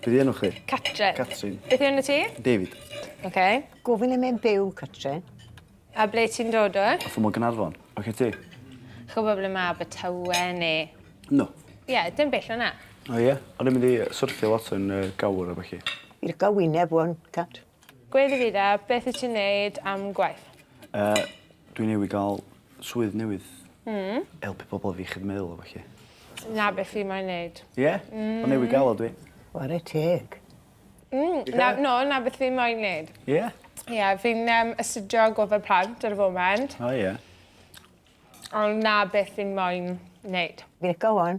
Be 'di enw chdi? Catrin. Catrin. Beth yw enw ti? David. Oce. Gofyn le mae'n byw, Catrin. A ble ti'n dod o? Fy mod Ganarfon. Oce ti? Chi'n gwybod ble mae Abertawe neu... No. Ie, dim bell o 'na. O ie? O'n i'n mynd i yy syrthio lot yn yy Gawr a ballu. Fi lico wyneb ŵan, Cat. Gwe Davida, beth wyt ti'n wneud am gwaith? Uh, dwi newydd gael swydd newydd. Mm. Helpu pobl efo iechyd meddwl a falle. Na beth fi mae'n neud. Ie? Yeah? Mm. Ond newydd gael o dwi. Ware teg. Mm. Na, no, na beth fi mae'n neud. Ie? Yeah? Ie, yeah, fi'n um, astudio gofod plant ar y foment. O oh, ie. Yeah. Ond na beth fi'n mae'n neud. Fe gowan,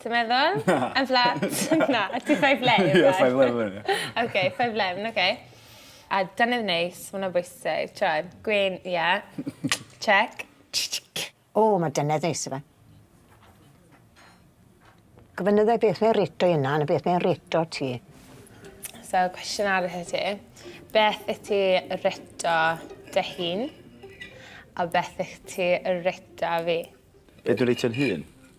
Ti'n meddwl? Na. Yn fflat? Na. Ti five 'leb reit? Ie five 'leb o'n i. Oce five 'leb oce. A deunydd neis ma' wnna bwysig t'wod gwên ie. Check. O ma' dynedd neis yfe. Gofyn iddo fe beth mae'n rêtio 'i unan a beth mae'n rêtio ti. So cwestiwn arall i ti. Beth wyt ti rêtio dy hun a beth wyt ti rêtio fi? Be' dwi rêtio'n hun?